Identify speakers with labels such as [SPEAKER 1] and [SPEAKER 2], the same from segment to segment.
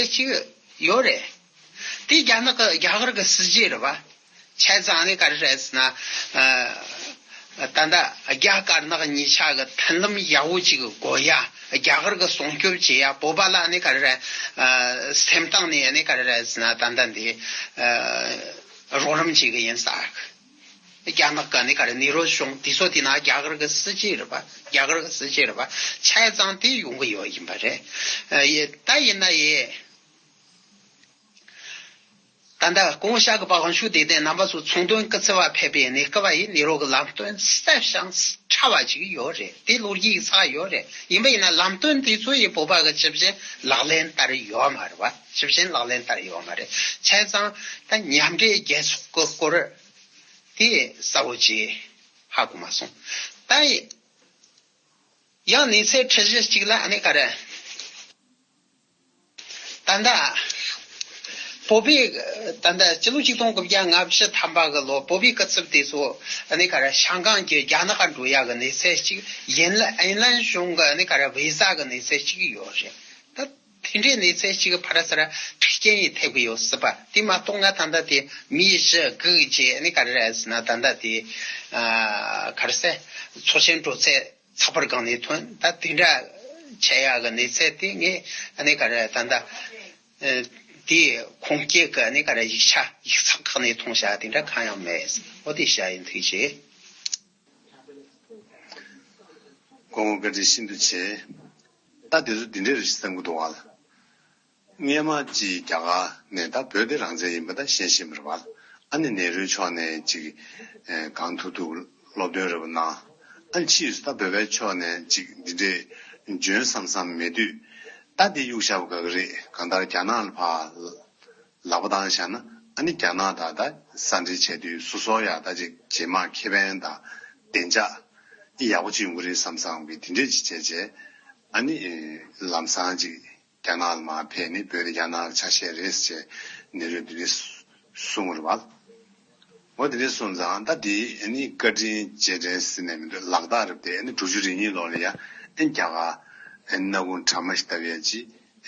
[SPEAKER 1] ཅི་ཡོད་ཡོད་རེད། དེ་རྒྱ་ནག་གི་རྒྱ་གར་གི་སྲིད་བྱུས་རེད་བ། ཆད་རྫངས་ནི་ག་རེ་རེད་ཟེར་ན། ད་ལྟ་རྒྱ་དཀར་ནག་གཉིས་ཆ་གི་མཐུན་ལམ་ཡག་བོ་ཅིག་དགོས་ཡ། རྒྱ་གར་གི་སྲུང་སྐྱོབ་བྱེད་ཡ་བོད་པ་ལ་ནི་ག་རེ་རེད། སེམས་གཏིང་ནས་ནི་ག་རེ་རེད་ཟེར་ན་ད་ལྟ་འདི། རོགས་རམ་བྱེད་གི་ཡིན་ས། རྒྱ་ནག་གི་ནི་ག་རེ་ནི་རོ་གཞུང་དེ་ཚོ་དེ་ན་རྒྱ་གར་གི་སྲིད་ཇུས་རེད་པ་རྒྱ་གར་གི་སྲིད་ཇུས་རེད་པ་ཆ་ཚང་དེ་ཡོང་གི་ཡོད་ཡིན་པ་རེད་ད་ཡིན་ན་ཡི། ད་ལྟ་ཀོང་བོ་ཤག་གི་པ་གང་བྱུང་དེ་དེ་རྣམ་པ་ཚོ་ཚོང་དོན་སྐུ་ཚེ་བ་ཕེབས་པའི་ནི་སྐུ་བ་ཡི་ནི་རོ་གི་ལམ་སྟོན་གསལ་བཤང་ཕྲ་བ་ཅིག་ཡོད་རེད་དེ་ལོ་རྒྱུས་ཡིག་ཚགས་ཡོད་རེད་ཡིན་པ་ཡིན་ན་ལམ་སྟོན་དེ་ཚོ་ཡི་བོད་པ་གི་སྤྱི་བྱེ་ལག་ལེན་ལྟར་ཡོད་མ་རེད་པ། ཞིབ་མཆན་ལག་ལེན་བསྟར་ཡོད་པ་མ་རེད། ཚན་གཙང་དང་མཉམ་འབྲེལ་རྒྱལ་ཚོགས་ཀྱི་སྐོར་དེ་གསལ་བོ་བྱས་ཧ་གོ་མ་སོང། ད་ཡང་གནས་ཚད་ཁྲི་བཞི་གཅིག་ལ་གནས་ཀ་རེད། ད་ལྟ་བོད་པའི་ད་ལྟ་སྤྱི་ལོ་ཆིག་སྟོང་དགུ་བརྒྱ་ང་བཞི་ཐམ་པ་གི་ལོ་བོད་པའི་སྐུ་ཚབ་དེ་ཚོ་གནས་ཀ་རེད་ཤང་ཀང་གི་རྒྱ་ནག་འགྲོ་ཡ་གི་གནས་ཚད་གཅིག་ཡན་ལན་གཞུང་གི་གནས་ཀ་རེད་བྷི་ཟ་གི་གནས་ཚད་གཅིག་ཡོད་རེད་ད། དེ་འདྲའི་གནས་ཚད་ཅིག་གི་བར་སར་འཁྲི་རྐྱེན་ཡིས་ཐེབས་ཀྱི་ཡོད་སྲིད་པ་དེ་མ་གཏོགས་ན་ད་ལྟ་དེ་མིའི་གཞི་རྒུད་རྗེས་ནས་ག་རེ་རེད་ཟེར་ན་ད་ལྟ་དེ། ག་རེ་ཟེར། ཚོགས་ཆེན་གྲོལ་ཚད་ཚགས་པར་སྒང་ནས་ཐོན་ད་དེ་འདྲ་བྱས་ཡག་གི་གནས་ཚད་དེ་ངས་ནས་ག་རེ་ད་ལྟ། དེ་ཁུངས་སྐྱེལ་གི་ནས་ག་རེ་ཡིག་ཆ་ཡིག་ཚགས་ཁག་ནས་མཐོང་བྱ་དེ་འདྲ་གང་ཡང་མེད་ཨོ་དེ་བྱ་ཡིན་ཐུགས་རྗེ། དགོངས་བཀའ་འདྲི་ཤིན་ཏུ་ཆེ། ད་དེ་ཚོ་འདི་འདྲའི་རེད་ཅེས་བསམ་
[SPEAKER 2] གྱི་འདུག་བ་ལ། སྔས་མ་ཅིག་རྒྱ་གར་ནས་ད་བོད་དེ་རང་བཙན་ཡིན་པ་ད་གཞན་ཤེས་མི་རུང་བ་ལ། ཨ་ནེ་ནེ་རུའི་ཕྱོགས་ནས་ཅིག་གང་ཐུག་ཐུག་སློབ་སྟོན་རེ་བ་གནང། ཨ་ནེ་ཕྱིས་སུ་ད་བོད་པའི་ཕྱོགས་ནས་ཅིག་འདི་འདྲས་འཇོན་བསམ་བསམ་མེད་དུས། ད་དེ་གཡུག་བཞག་པ་ག་གི་རེད་གང་ལྟར་རྒྱ་ནག་ལ་ཕར་ལག་པ་དང་བཞག་ན་ཨ་ནི་རྒྱ་ནག་དག་དང་ས་འབྲེལ་བྱས་དུས་སུ་སོག་ཡག་ད་ཅིག་རྗེས་མ་ཁེ་བན་དང་བདེ་འཇགས་ཨི་ཡག་པོ་ཅིག་འགོ་རེད་བསམ་བསམ་གི་དེ་འདྲས་ཅིག་བྱས་རྗེས་ཨ་ནི་ལམ་སང་ཅིག་རྒྱ་ནག་ལ་མ་ཕེབས་ནི་བོད་རྒྱ་ནག་ཆ་ཤས་རེད་ཅེས་ནི་རེད་འདི་རེད་གསུང་ངོ་རེད་བ། ངོ་དེ་འདྲའི་སོང་ཙང་ད་དེ་ཨེ་ནི་བཀའ་དྲིན་རྗེས་དྲན་ཟེར་ནས་མི་འདུག་ལག་རྟགས་རེད་བལྟས་ཨེ་ནི་དྲུག་ཅུ་རེ་གཉིས་ལོག་ལེ་ཡ་ཨེ་རྒྱ་གར་ཨེ་ནི་ནག་གུང་བྲག་མ་ཞིག་ལྟ་བུ་ཡ་ཅི་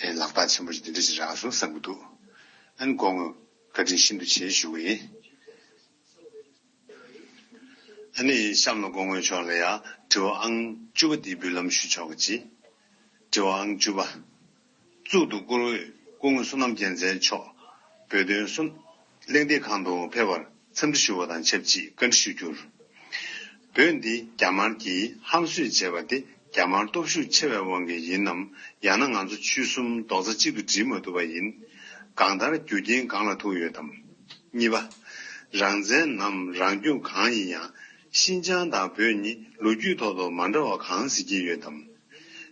[SPEAKER 2] ཨེ་ལག་རྟགས་ཆེན་པོ་ཞིག་འདི་འདྲ་ཞིག་རག་སོང་བསམ་གྱི་འདུག་ཨེ་ནི་གོ་ངོས་བཀའ་དྲིན་ཤིན་ཏུ་ཆེ་ཞུ་གི་ཡིན་ཨེ་ནི་གཤམ་ལ་གོ་ངོས་ཆོག་ལེ་ཡ་དྲི་བ་ཨང་བཅུ་པ་འདི་འབུལ་ལམ་ཞུ་ཆོག་གི་ཅི། དྲི་བ་ཨང་བཅུ་པ། གཙུག་ཏུ་བཀུར་འོས་སྐུ་ངོ་བསོད་ནམས་རྒྱལ་མཚན་མཆོག་བོད་དོན་གསུམགླེང་སྟེགས་ཁང་དུ་ཕེབས་པར་འཚམས་འདྲི་ཞུ་བ་དང་ཆབས་ཅིག་བཀའ་འདྲི་ཞུ་རྒྱུར། བོད་འདི་རྒྱ་དམར་གྱིས་ཧམ་གསོད་བྱས་པ་དེ་རྒྱ་དམར་སྟོབས་ཤུགས་ཆེ་བའི་དབང་གིས་ཡིན་ནམ་ཡང་ན་ང་ཚོ་ཆུ་གསུམ་རྡོག་རྩ་གཅིག་ཏུ་སྒྲིལ་མ་ཐུབ་པ་ཡིན། གང་ལྟར་རྒྱུ་རྐྱེན་གང་ལ་ཐུག་ཡོད་དམ། གཉིས་པ། རང་བཙན་ནམ་རང་སྐྱོང་གང་ཡིན་ཡང་ཤིན་ཅང་དང་བོད་གཉིས་ལོ་རྒྱུས་ཐོག་ཏུ་མ་འདྲ་བ་གང་གཟིགས་ཀྱི་ཡོད་དམ།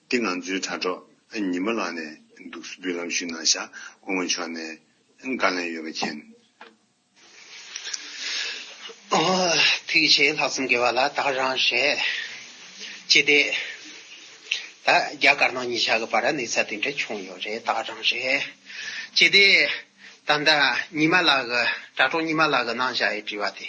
[SPEAKER 2] འདི་ང་ཚོའི་དྲ་གྲོགས། ཨ་ཉི་མ་ལགས་ནས་འདུག་སུ་བུ་ལམ་ཞུགས་ནང་ཤག་སྐུ་ངོ་མཆོག་ནས་བཀའ་ལན་ཡོད་པ་མཁྱེན།
[SPEAKER 1] ཐུགས་རྗེ་ལྷག་བསམ་དགེ་བ་ལ་དྭགས་རང་བཤད། ཅི་སྟེ། ད་རྒྱ་དཀར་ནག་གཉིས་ཆ་གི་བར་གནས་ཚད་དེ་འདྲ་བྱུང་ཡོད་རེད་དྭགས་རང་བཤད། ཅི་སྟེ། ད་ཟླ་ཉི་མ་ལགས་གི་དྲ་གྲོགས་ཉི་མ་ལགས་གི་གནང་བཞག་ཡི་དྲི་བ་དེ།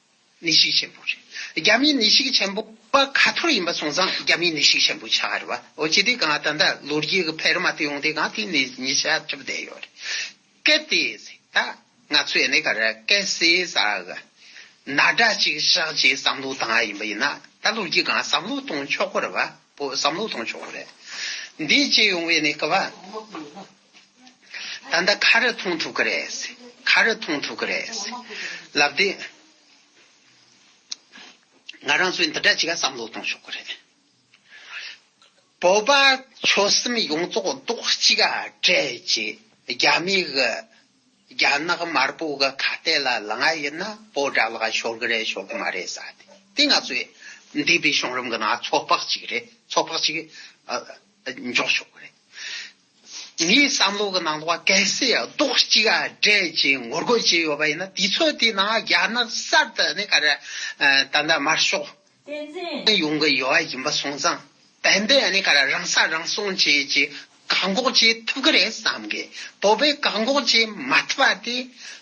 [SPEAKER 1] ནི་ཤིག་ཆེན་པོ། རྒྱ་མི་ནི་ཤིག་ཆེན་པོ། པ་ག་ཐོར་ཡིན་པ་སོང་ཙང་རྒྱ་མི་ནི་ཤིག་ཆེན་པོ་ཆགས་རེད་བ། འོ་ཅི་དེ་གང་ད་ལྟ་ལོ་རྒྱུས་ཀྱི་ཕལ་མ་དེ་ཡོང་དེ་གང་དེ་ནི་ཉི་ཤ་ཁྲི་བ་བསྡད་ཡོད་རེད། གལ་ཏེ་ད་ང་ཚོས་ནི་ག་རེ་སྐད་སེ་ཟ་ག་ན་དྲ་ཅིག་བཞག་རྗེས་བསམ་བློ་བཏང་ཡ་ཡིན་པ་ཡིན་ན་ད་ལོ་རྒྱུས་གང་བསམ་བློ་གཏོང་ཆོག་གོ་རེད་བ་པོ་བསམ་བློ་གཏོང་ཆོག་གོ་རེད། འདི་བྱེད་ཡོང་བའི་ནི་སྐབས་བ། ད་ལྟ་ཁ་རས་མཐོང་ཐུབ་ཀྱི་རེད། ཁ་རས་མཐོང་ཐུབ་ཀྱི་རེད། ལབ་དེ། ང་རང་ཚོས་འདི་འདྲ་ཅིག་བསམ་བློ་གཏོང་ཆོག་གི་རེད། བོད་པ་ཆོལ་གསུམ་ཡོངས་རྫོགས་རྡོག་གཅིག་གྲལ་གཅིག་རྒྱ་མི་གི། རྒྱ་ནག་དམར་པོ་གི་ཁ་གཏད་ལ་ལངས་ཡས་ན་བོད་དགྲ་ལག་ཤོར་གི་རེད་ཤོར་གི་མ་རེད་ས་དེ་དེ་ང་ཚོས་འདས་པའི་བྱུང་རིམ་གི་ནང་ཚོད་དཔག་ཅིག་རེད་ཚོད་དཔག་ཅིག་འཇོག་ཆོག་གི་རེད། ངའི་བསམ་བློ་གི་ནང་དུ་བ་གལ་སྲིད་རྡོག་གཅིག་སྒྲིལ་གྱིས་ངོ་རྒོལ་བྱས་ཡོད་པ་ཡིན་ན་དུས་ཚོད་དེའི་ནང་རྒྱ་ནག་གསར་དུ་ནས་ག་རེ་ད་ལྟ་དམར་ཤོག་ཡོང་གི་ཡོད་པ་ཡིན་པ་སོང་ཙང་དེ་འདི་ནས་ག་རེ་རང་ས་རང་སྲུང་བྱེད་ཀྱི་བཀག་འགོག་བྱེད་ཐུབ་ཀྱི་རེད་བསམ་གི་བོད་པའི་བཀག་འགོག་བྱེད་མ་ཐུབ་པ་དེ་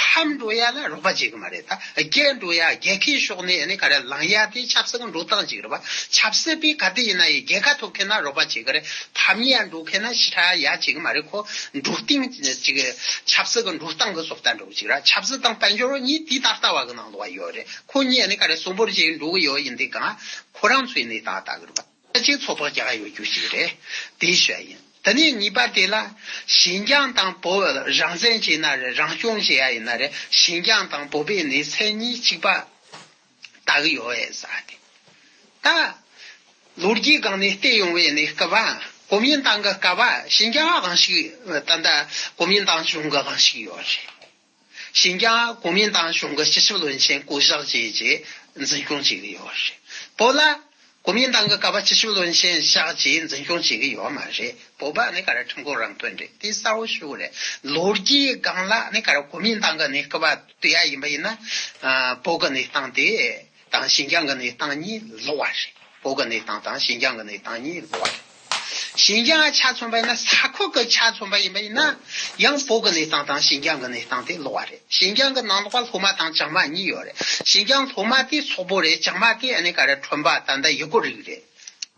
[SPEAKER 1] ཕར་འགྲོ་ཡ་ལ་རོགས་པ་བྱེད་གི་མ་རེད་ད་རྒྱལ་འགྲོ་ཡ་རྒྱལ་ཁའི་ཕྱོགས་ནས་ཡ་ནི་ག་རེ་ལངས་ཡ་དེ་ཆབ་སྲིད་ཀྱི་འགྲོ་སྟངས་ཅིག་རེད་བ་ཆབ་སྲིད་པའི་ག་དེ་ཡིན་ན་ཡི་རྒྱལ་ཁ་ཐོབ་མཁན་ན་རོགས་པ་བྱེད་གི་རེད་ཕམ་ཡ་འགྲོ་མཁན་ན་ཕྱི་ཁྲག་ཡ་བྱེད་གི་མ་རེད་ཁོ་འགྲོ་སྟིང་ཅིག་ཆབ་སྲིད་ཀྱི་འགྲོ་སྟངས་ཀྱི་སོགས་ལྟ་འགྲོ་ཅིག་ར་ཆབ་སྲིད་དང་དཔལ་འབྱོར་གཉིས་དུས་ད་ལྟ་བ་གི་ནང་དུ་བ་ཡོད་རེད་ཁོ་གཉིས་ཡ་ནི་ག་རེ་གསོན་པོར་བྱེད་འགྲོ་གི་ཡོད་ཡིན་དེ་གང་ཁོ་རང་ཚོའི་གནས་སྟངས་ལྟ་གི་རེད་བ། རྩ་ཆེའི་ཚོགས་ཐོག་རྒྱག་ཡོད་རྒྱུ་ཞིག་རེད། དེའི་ཤོད་ཡིན། དེ་ནས་གཉིས་པ་དེ་ལ། ཞིན་ཅང་དང་བོད་བར་རང་བཙན་བྱས་ན་རེད་རང་སྐྱོང་བྱས་ཡ་ཡིན་ན་རེད་ཞིན་ཅང་དང་བོད་པའི་ནི་མཚན་གཉིས་གཅིག་པ། ད་གི་ཡོད་ཨེ་ཟ་དེ། ད། ལོ་རྒྱུས་སྒང་ནས་བལྟས་ཡོང་བའི་ནི་སྐབས། གོ་མིན་ཏང་གི་སྐབས། ཞིན་ཅང་གང་ཞིག་ད་ལྟ་གོ་མིན་ཏང་བྱུང་གི་གང་ཞིག་ཡོད་རེད། ཞིན་ཅང་གོ་མིན་ཏང་གཞུང་གི་སྤྱི་ཁྱབ་བློན་ཆེན་བསྐོ་གཞག་བཅས་ཀྱི་འཛིན་སྐྱོང་བྱེད་ཀྱི་ཡོད་རེད། བོད་ལ་གོ་མིན་ཏང་གི་ཀ་བ་སྤྱི་ཁྱབ་བློན་ཆེན་བཞག་རྗེས་འཛིན་སྐྱོང་བྱེད་ཀྱི་ཡོད་མ་རེད། བོད་པ་ནི་ཀ་ར་ཁྲིམས་ཁང་རང་དོན་རེད་དེ་གསལ་བོ་ཞུ་རེད། ལོ་རྒྱུས་སྒང་ལ་ནི་ཀ་ར་གོ་མིན་ཏང་གི་ནི་ཀ་བ་དུས་ཡ་ཡིན་པ་ཡིན་ན། བོད་ཀྱི་ནི་ཏང་དེ། དང་ཞིན་ཅང་གི་གནས་སྟངས་གཉིས་ལོགས་བ་རེད། བོད་ཀྱི་གནས་སྟངས་དང་ཞིན་ཅང་གི་གནས་སྟངས་གཉིས་ལོགས་བ་རེད། ཞིན་ཅང་གི་ཆ་མཚོན་པ་ཡིན་ན་ས་ཁུལ་གྱི་ཆ་མཚོན་པ་ཡིན་པ་ཡིན་ན་ཡང་བོད་ཀྱི་གནས་སྟངས་དང་ཞིན་ཅང་གི་གནས་སྟངས་དེ་ལོགས་བ་རེད། ཞིན་ཅང་གི་ནང་ལོགས་པ་ལྷོ་མ་དང་བྱང་མ་གཉིས་ཡོད་རེད། ཞིན་ཅང་ལྷོ་མ་དེ་སོག་པོ་རེད་བྱང་མ་དེ་ཨ་ནེ་ཀ་རེད་ཁྲོན་པ་ད་ལྟ་ཡུ་གུར་རིགས་རེད།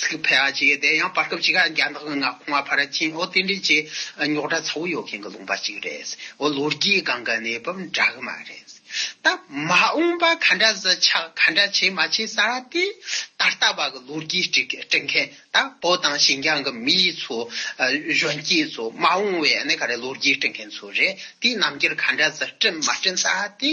[SPEAKER 1] ཚིག་ཕལ་བ་ཅིག་དེ་ཡང་བར་སྐབས་ཅིག་རྒྱ་ནག་གི་མངའ་ཁོངས་ཕར་ཕྱིན་འོག་རྟེན་འབྲེལ་གྱི་རྙོག་དྲ་ཚ་བོ་ཡོད་མཁན་གྱི་ལུང་པ་ཅིག་རེད། འོ་ལོ་རྒྱའི་སྒང་གི་གནས་བབ་འདྲ་གི་མ་རེད། ད་མ་འོངས་པ་ག་འདྲ་བཟི་ཆགས་ག་འདྲ་བྱེད་མ་བྱེད་ས་ར་དེ་ད་ལྟ་བ་གི་ལོ་རྒྱུས་དཀྲི་མཁན་ད་བོད་དང་ཞིན་ཅང་གི་མི་ཡི་ཚོ་གཞོན་སྐྱེས་ཚོ་མ་འོངས་བའི་ག་རེ་ལོ་རྒྱུས་དཀྲི་མཁན་ཚོ་རེད་དེ་ནམ་རྒྱུན་ག་འདྲ་བཟི་བཀྲིན་མ་བཀྲིན་ས་ར་དེ།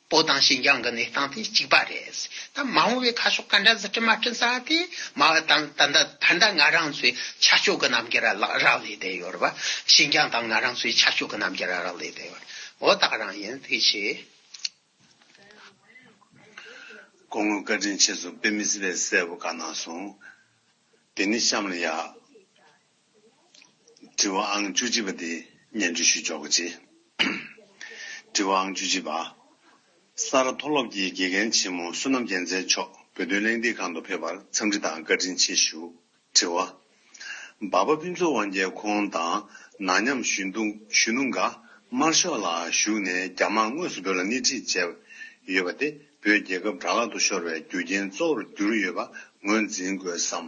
[SPEAKER 1] པོ་དང་ཞིན་ཅང་གི་གནས་སྟངས་དེ་གཅིག་པ་རེད། ད་མ་འོངས་བའི་ཁ་ཕྱོགས་ག་འདྲ་ཟེར་དྲི་མ་དྲི་ས་དེ་སྨྲ་བ་དང་ད་ལྟ་ད་ལྟ་ང་རང་ཚོའི་ཆ་ཕྱོགས་ཀྱི་རྣམ་རྒྱལ་ར་རག་ལས་བསྡད་ཡོད་རེད་བ། ཞིན་ཅང་དང་ང་རང་ཚོའི་ཆ་ཕྱོགས་ཀྱི་རྣམ་རྒྱལ་ར་རག་ལས་བསྡད་ཡོད་རེད། འོ་ད་རང་ཡིན་དེ་ཤེས། དགོང་
[SPEAKER 2] མོའི་བཀའ་དྲིན་ཆེ་སོང་དཔེ་མི་སྲིད་པའི་གསལ་པོ་བཀའ་གནང་སོང། དེ་ནི་གཤམ་ལ་ཡག། དྲི་བ་ཨང་བཅུ་གཅིག་པ་དེ་སྙན་ཅུ་ཞུས་འཇོག་གི་རྗེས། དྲི་བ་ཨང་བཅུ་གཅིག་པ། ས་རཱ་མཐོ་སློབ་ཀྱི་དགེ་རྒན་ཆེན་མོ་བསོད་ནམས་རྒྱལ་མཚན་མཆོག་བོད་དོན་གླེང་སྟེགས་ཁང་དུ་ཕེབས་པར་འཚམས་འདྲི་དང་བཀའ་དྲིན་ཆེ་ཞུ། དྲི་བ། འབའ་པ་ཕུན་ཚོགས་དབང་རྒྱལ་ཁོང་དང་ནང་ཉམས་གཞོན་དུ་གཞོན་ནུ་འགའ་དམར་ཤོག་ལ་བཞུགས་ནས་རྒྱ་དམག་དངོས་སུ་བོད་ལ་སྣེ་ཁྲིད་བྱས་ཡོད་པ་དེ་བོད་རྒྱལ་ཁབ་དགྲ་ལག་ཏུ་ཤོར་བའི་རྒྱུ་རྐྱེན་གཙོ་བོར་གྱུར་ཡོད་པ་ངོས་འཛིན་དགོས་སམ།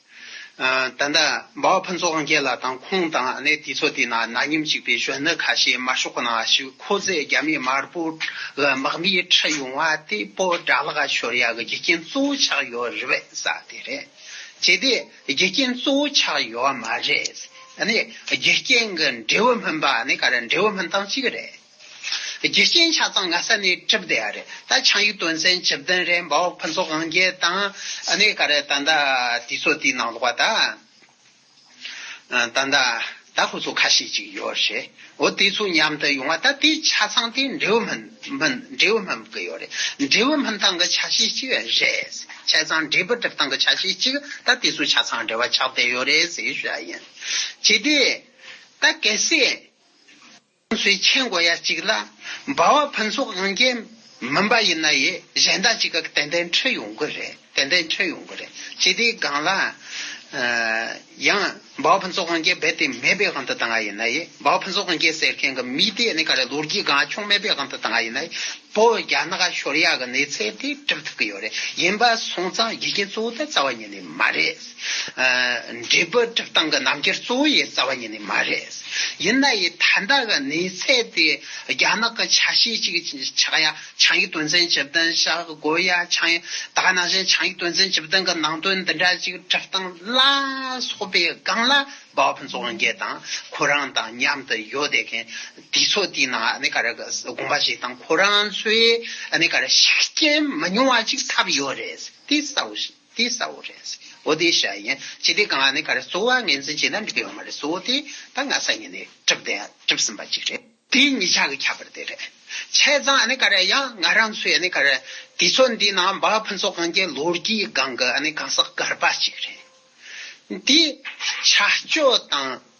[SPEAKER 1] ད་ལྟ་འབའ་བ་ཕུན་ཚོགས་རྒྱལ་ལགས་དང་ཁོང་དང་གནས་དེ་ཚོ་དེ་ན་ན་མཉམ་གཅིག་པའི་གཞོན་ནུ་ཁ་ཤས་མ་ཤོག་ན་ཞུ་ཁོ་ཚོས་རྒྱ་མི་དམར་པོ་ལ་དམག་མི་ཁྲིད་ཡོང་བ་དེ་པོ་དགྲ་ལག་ཤོར་ཡག་གི་རྒྱུ་རྐྱེན་གཙོ་བོ་ཆགས་ཡོད་རེད་བས་ས་དེ་རེད་བྱས་ཏེ་རྒྱུ་རྐྱེན་གཙོ་བོ་ཆགས་ཡོད་མ་རེད་ཨ་ནི་རྒྱུ་རྐྱེན་གི་འབྲས་བུ་སྨིན་པ་ནི་ག་རེ་འབྲས་བུ་སྨིན་སྟངས་གཅིག་རེད། རྒྱུ་རྐྱེན་ཆ་ཚང་ངྷ་ས་ནས་གྲུབ་བསྡད་ཡ་རེད་ད་ཆང་ཡུལ་དོན་ཚན་བཅུ་བདུན་རེད་འབའ་འོག་ཕུན་ཚོགས་དབང་རྒྱལ་དང་གནས་ག་རེད་ད་ཟླ་དུས་ཚོད་དུས་ནང་ལོག་པ་ད་ད་ད་ད་ཧུ་ཚོ་ཁ་ཤས་ཅིག་ཡོད་རེད་འོ་དེ་ཚོ་མཉམ་དུ་ཡོང་བ་ད་དེ་ཆ་ཚང་དེ་འབྲེའུ་སྨན་འབྲེའུ་སྨན་བུ་གི་ཡོད་རེད་འབྲེའུ་སྨན་ཐང་གི་ཆ་ཤས་ཅིག་རེད་ཆ་ཚང་འབྲས་བུ་གྲིབ་ཐང་གི་ཆ་ཤས་ཅིག་ད་དེ་ཚོ་ཆ་ཚང་འབྲེལ་བ་ཆགས་བསྡད་ཡོད་རེད་ཟེར་ཞུ་ཡ་ཡིན་བྱས་དེ་ད་གལ་སྲིད། ཁོང་ཚོའི་མཆན་མགོ་ཡ་གཅིག་ལ་འབའ་བ་ཕུན་ཚོགས་དབང་རྒྱལ་མིན་པ་ཡིན་ན་ཡི་གཞན་དག་ཅིག་ག་ཏན་ཏན་འཕྲོད་ཡོང་གི་རེད་ཏན་ཏན་འཕྲོད་ཡོང་གི་རེད་ཅེས་དེའི་སྒང་ལ་ཡང་འབའ་བ་ཕུན་ཚོགས་དབང་རྒྱལ་རྦད་དེ་མེད་པའི་དབང་དུ་བཏང་བ་ཡིན་ན་ཡི་འབའ་བ་ཕུན་ཚོགས་དབང་རྒྱལ་ཟེར་མཁན་གྱི་མི་དེ་ནི་ག་རེ་ལོ་རྒྱུས་སྒང་ཆུང་མེད་པའི་དབང་དུ་བཏང་བ་ཡིན་ན་ཡི་བོད་རྒྱ་ནག་ཤོར་ཡག་གི་གནས་ཚད་དེ་གྲུབ་ཐུབ་ཀྱི་ཡོད་རེད་ཡིན་པ་སོང་ཙང་རྒྱུ་རྐྱེན་གཙོ་བོ་དེ་རྩ་བ་ཉིད་ནས་མ་རེད། འབྲས་བུ་སྒྲིབ་སྟངས་ཀྱི་རྣམ་རྒྱལ་གཙོ་བོ་ཡི་རྩ་བ་ཉིད་ནི་མ་རེད། ཡིན་ན་ཡི་ད་ལྟ་གི་གནས་ཚད་དེ་རྒྱ་ནག་གི་ཆ་ཤས་གཅིག་ཆགས་ཡ་ཆང་ཡིག་དོན་ཚན་བཅུ་བདུན་ཞག་དགོས་ཡ་ཆང་ཡིག་ད་ག་ནང་བཞིན་ཆང་ཡིག་དོན་ཚན་བཅུ་བདུན་གྱི་ནང་དོན་འདི་འདྲ་ཅིག་སྒྲིབ་སྟངས་ལ་སོགས་པའི་སྒང་ལ་བབ་རྫོགས་འགྱེད་དང་ཁོ་རང་དང་མཉམ་དུ་ཡོད་བསྡད་མཁན་དེ་ཚོ་དེ་ནང་གནས་ག་རེ་དགོངས་པ་བཞེས་དང་ཁོ་རང་ཚོའི་གནས་ག་རེ་ཤུགས་རྐྱེན་མི་ཉུང་བ་ཅིག་ཐབས་ཡོད་རེད་དེ་གསལ་བོ་ཞིག། དེ་གསལ་བོ་རེད། བོ་དེ་ཤ་ཡིན། ཅི་སྟེ་གང་ནས་ག་རེ་གསོ་བ་ངེས་འཛིན་བྱས་ན་འགྲིག་གི་ཡོད་མ་རེད་གསོ་དེ་ད་སྔ་ས་ཉིན་ནས་གྲུབ་དེ་གྲུབ་ཟིན་པ་ཅིག་རེད། དེ་གཉིས་ཆ་གི་ཁྱད་པར་དེ་རེད། ཆས་ཙང་ག་རེ་ཡང་ང་རང་ཚོའི་ག་རེ་དུས་ཚོད་འདི་ནང་འབའ་ཕུན་ཚོགས་གང་གི་ལོ་རྒྱུས་སྒང་གི་གང་ཟག་གར་པ་ཅིག་རེད། དེ་ཆ་སྤྱོད་དང་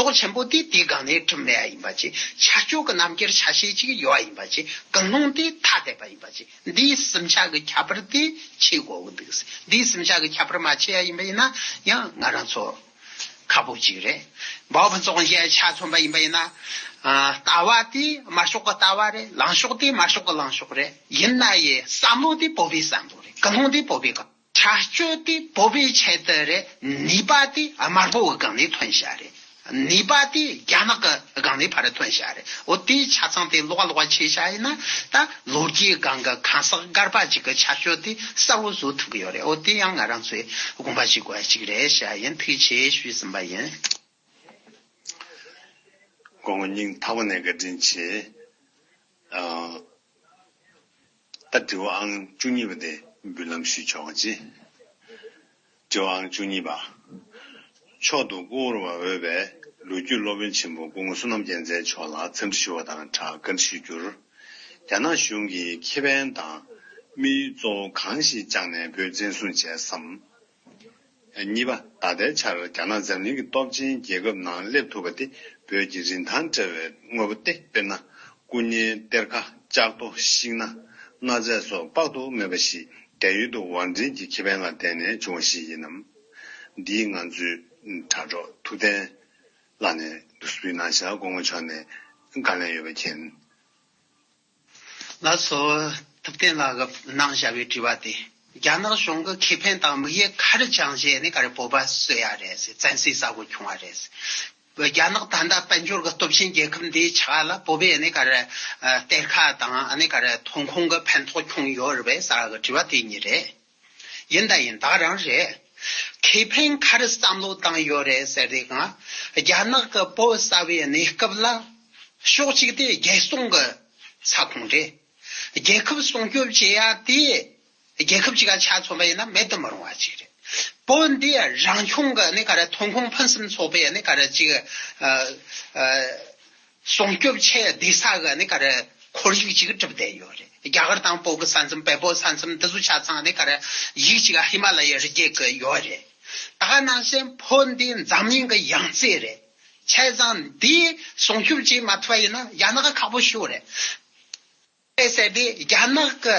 [SPEAKER 1] རྟོག་ཆེན་པོ་དེ་དེའི་སྒང་ནས་གྲུབ་མེད་ཡིན་པ་བཅས་ཆ་སྐྱོགས་ཀྱི་རྣམ་དབྱེར་ཆ་ཤས་གཅིག་ཡོད་ཡིན་པ་བཅས་གང་རུང་དེ་ཐ་དད་པ་ཡིན་པ་བཅས་འདིའི་སེམས་ཆགས་ཀྱི་ཁྱད་པར་དེ་ཕྱེ་དགོས་ཀྱི་འདུག་འདིའི་སེམས་ཆགས་ཀྱི་ཁྱད་པར་མ་ཕྱེ་ཡ་ཡིན་པ་ཡིན་ན་ཡང་ང་རང་ཚོ་ཁ་པོ་གཅིག་རེད། བག་ཕན་ཚོགས་འཇལ་ཆ་མཚོན་པ་ཡིན་པ་ཡིན་ན། ལྟ་བ་དེ་དམར་ཤོག་གི་ལྟ་བ་རེད་ལང་ཤོག་དེ་དམར་ཤོག་གི་ལང་ཤོག་རེད། ཡིན་ན་ཡི་བསམ་བློ་དེ་བོད་པའི་བསམ་བློ་རེད་གང་རུང་དེ་བོད་པའི། བྱ་སྤྱོད་དེ་པོ་པའི་ཆེད་དུ་རེད་ནུས་པ་དེ་དམར་པོའི་སྒང་ནས་ཐོན་ཤག་རེད་ནུས་པ་དེ་རྒྱ་ནག་གི་སྒང་ནས་ཕར་ཐོན་ཤག་རེད་འོ་དེའི་ཆ་ཚང་དེ་ལོག་ལོག་བྱས་ཤག་ཡིན་ན་ད་ལོ་རྒྱའི་སྒང་གི་གང་ཟག་སྒར་པ་གཅིག་གི་བྱ་སྤྱོད་དེ་གསར་བོ་བཟོ་ཐུབ་ཀྱི་ཡོད་རེད་འོ་དེ་ཡང་ང་རང་ཚོས་དགོངས་པ་བཞེས་དགོས་པ་ཞིག་རེད་ཤག་ཡིན་ཐུགས་ཆེ་ཞུས་ཟིན་པ་ཡིན། དགོང་
[SPEAKER 2] མོ་སྙིང་ཐག་པ་ནས་བཀའ་དྲིན་ཆེ། ད་དྲི་བ་ཨང་བཅུ་གཉིས་པ་དེ་འབུལ་ལམ་ཞུས་ཆོག་ག་ཅི། དྲི་བ་ཨང་བཅུ་གཉིས་པ། མཆོག་ཏུ་བཀུར་བར་འོས་པའི་ལོ་རྒྱུས་སློབ་དཔོན་ཆེན་པོ་སྐུ་ངོ་བསོད་ནམས་རྒྱལ་མཚན་མཆོག་ལ་འཚམས་འདྲི་ཞུ་བ་དང་སྦྲགས་བཀའ་འདྲི་ཞུ་རྒྱུར། རྒྱ་ནག་གཞུང་གིས་ཁེ་ཕན་དང་དམིགས་ཡུལ་གཙོ་བོ་གང་ཞིག་བཅངས་ནས་བོད་བཙན་བཟུང་བྱས་སམ། གཉིས་པ། ད་ལྟའི་ཆར་རྒྱ་ནག་འཛམ་གླིང་གི་སྟོབས་ཆེན་རྒྱལ་ཁབ་ནང་སླེབས་ཐུབ་པ་དེ་བོད་ཀྱི་རིན་ཐང་བྲལ་བའི་དངོས་པོ་སྟེ་དཔེར་ན། སྐུ་བརྙན་གཏེར་ཁ་ལྕགས་རྡོ་ཤིང་སྣ་གནའ་རྫས་སོགས་དཔག་ཏུ་མེད་པ་ཞིག་རྒྱ་ཡུལ་དུ་བང་འགྲིན་གྱི་ཁེ་ཕན་ལ་བརྟེན་ནས་བྱུང་བ་ཞིག་ཡིན་ནམ། འདིའི་ང་ཚོའི་དྲ་གྲོགས་ཐུབ་བསྟན་ལགས་ནས་ཟུར་ཕུད་གནང་ཞག་སྐུ་ངོ་མཆོག་ནས་བཀའ་ལན་ཡོད་པ་མཁྱེན། ལ་
[SPEAKER 1] སོགས་ཐུབ་བསྟན་ལགས་ཀྱི་གནང་བྱ་བའི་དྲི་བ་དེ། རྒྱ་ནག་གཞུང་གི་ཁེ་ཕན་དང་དམིགས་ཡས་ག་རེ་བཅང་བྱས་ནས་ག་རེ་བོད་པ་གསོད་ཡ་རེད་ཟེར་བཙན་སེལ་ཟ་དགོས་བྱུང་བ་རེད་ཟེར། རྒྱ་ནག་ད་ལྟ་དཔལ་འབྱོར་གྱི་སྟོབས་ཆེན་རྒྱལ་ཁབ་འདིའི་ཆ་ལ་བོད་པའི་གནས་ག་རེ་གཏེར་ཁ་དང་གནས་ག་རེ་ཐོན་ཁུངས་ཀྱི་ཕན་ཐོགས་བྱུང་ཡོད་རེད་བས་ས་གི་དྲི་བ་དེ་གཉིས་རེད། ཡིན་ད་ཡིན་དག་རང་རེད། ཁེ་ཕན་ཁར་བསམ་བློ་བཏང་ཡོད་རེད་ཟེར་དུས་གང། རྒྱ་ནག་གི་བོད་གསར་བའི་གནས་སྐབས་ལ། ཕྱོགས་གཅིག་དེ་རྒྱལ་སྲུང་གི་ས་ཁོངས་རེད། རྒྱལ་ཁབ་སྲུང་སྐྱོབ་བྱེད་ཡ་དེ། རྒྱལ་ཁབ་ཅིག་ལ་ཆ་མཚོན་པ་ཡིན་ན་མེད་དུ་མི་རུང་བ་ཅིག་རེད། བོད་འདི་རང་སྐྱོང་གི་གནས་སྐབས་ལ་ཐོན་ཁུངས་ཕུན་སུམ་ཚོགས་པའི་གནས་སྐབས་ཅིག། སྲུང་སྐྱོབ་ཆེད་སྡེ་ས་ག་ནས་གར་ཁོར་ཡུག་ཅིག་གྲུབ་བསྡད་ཡོད་རེད། རྒྱ་གར་དང་པོ་གི་ས་མཚམས་བལ་པོ་ས་མཚམས་འདི་ཚོ་ཆ་ཚང་ནས་གར་ཡིག་ཅིག་ཧི་མ་ལ་ཡའི་རི་རྒྱལ་གི་ཡོད་རེད། ད་ནང་བཞིན་བོད་འདི་འཛམ་གླིང་གི་ཡང་རྩེ་རེད། ཆས་ཙང་འདི་སྲུང་སྐྱོབ་བྱེད་མ་ཐུབ་པ་ཡིན་ན་རྒྱ་ནག་ཁག་པོ་ཤོར་རེད། དཔེ་གསལ་པོས་རྒྱ་ནག་གི།